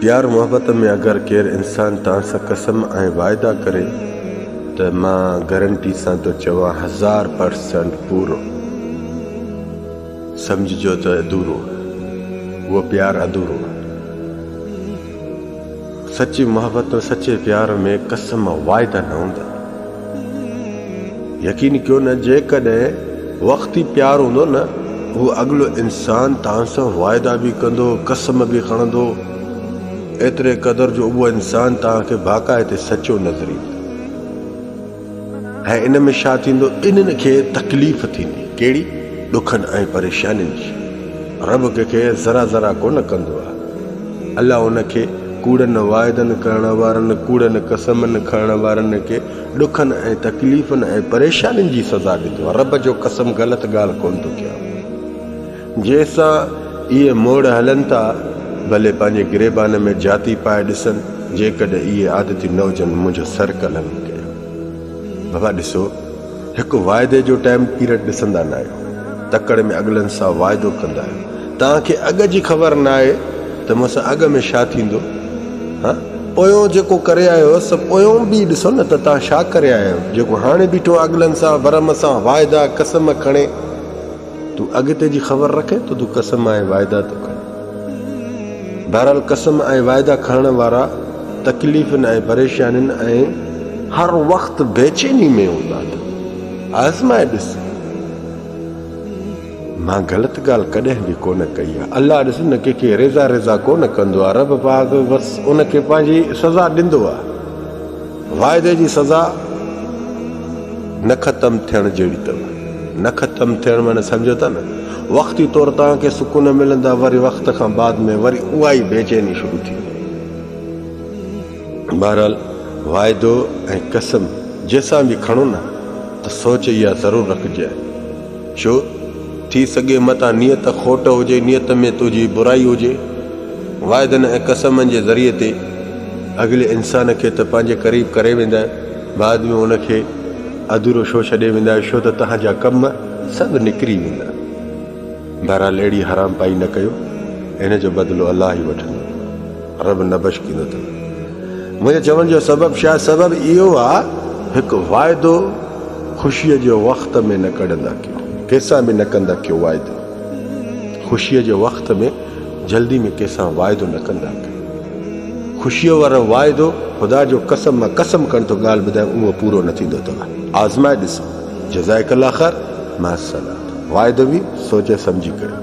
پيار محبت ۾ اگر ڪير انسان توهان سان قسم ۽ واعدا ڪري ته مان گرنٽي سان ٿو چوان هزار پر سينٽ پورو سمجهجو ته ادورو اهو پيار ادورو سچي محبت سچي پيار ۾ قسم واعدا نه هوندا يقين ڪيو نه جيڪڏهن وقت ئي پيار هوندو نه هو اڳلو انسان توهان سان واعدا به ڪندو قسم به کڻندو ايتري قدر جو اهو انسان توهان کي باقاعدي سچو نظر ايندو ۽ ان ۾ ڇا ٿيندو انهن کي تڪليف ٿيندي ڪهڙي ڏکن ۽ پريشانين جي رب ڪنهن کي ذرا ذرا ڪونه ڪندو آهي الله ان کي ڪوڙن واعدن ڪرڻ وارن، ڪوڙن قسمن کڻڻ وارن کي ڏکن ۽ تڪليفن ۽ پريشانين جي سزا ڏيندو آهي. رب جو قسم غلط ڳالهه ڪونه ٿو ڪيان. جنهن سان اهي موڙ هلن ٿا، ڀلي پنهنجي گريبان ۾ جاتي پائي ڏسن، جيڪڏهن اهي عادتي نه هجن، منهنجو سر ڪلهه نه ڪريو. بابا ڏسو! هڪ واعدي جو ٽائيم پيريڊ ڏسندا نه آهيو، تڪڙ ۾ اڳلن سان واعدو ڪندا آهيو، توهان کي اڳ جي خبر نه آهي ته مون سان اڳ ۾ ڇا ٿيندو، ها پويون جيڪو ڪري آيو هوس سو پويون به ڏسو نه ته توهان ڇا ڪري آيا آهيو، جيڪو هاڻي بيٺو اڳلن سان ورم سان واعدا قسم کڻي، تون اڳتي جي خبر رکين ته تون قسم ۽ واعدا ٿو کڻين. بهرحال قسم ۽ وعدا کڻڻ وارا تڪليفن ۽ پريشانين ۽ هر وقت بيچيني ۾ هوندا ته آزمائي ڏس مان غلط ڳالهه ڪڏهن به ڪونه ڪئي آهي الله ڏس نه ڪنهن کي ريزا ريزا ڪونه ڪندو آهي رب پاڪ بس ان کي پنهنجي سزا ڏيندو آهي واعدي جي سزا نه ختم ٿيڻ جهڙي اٿو. نه ختم ٿيڻ معني سمجهو ٿا نه وقتي طور توهان کي سڪون ملندا وري وقت کان بعد ۾ وري اها ئي بيچيني شروع ٿي ويندي. بهرحال واعدو ۽ قسم جنهن سان به کڻو نه ته سوچ اها ضرور رکجي ڇو ٿي سگهي متان نيت کوٽ هجي، نيت ۾ تنهنجي برائي هجي. واعدن ۽ قسمن جي ذريعي تي اڳلي انسان کي ته پنهنجي قريب ڪري ويندا آهيو، بعد ۾ ان کي اڌورو شو ڇڏي ويندا آهيو، ڇو ته تنهن جا ڪم سڀ نڪري ويندا. بهرحال اهڙي حرام پائي نه ڪيو، ان جو بدلو الله ئي وٺندو. عرب نه بشڪينو اٿن. منهنجي چوڻ جو سبب شايد سبب اهو آ هڪ واعدو خوشيء جي وقت ۾ نه ڪڙهندا ڪيو ڪيسان به نه ڪندا ڪيو واعدو خوشيء جي وقت ۾ جلدي ۾ ڪيسان واعدو نه ڪندا ڪيو خوشيء وارو واعدو خدا جو قسم مان قسم ڪرڻ ٿو ڳالهه ٻڌايان اهو پورو نه ٿيندو اٿو آزمائي ڏسو جزائڪ الله خير مع السلام واعدو به سوچي سمجهي ڪريو.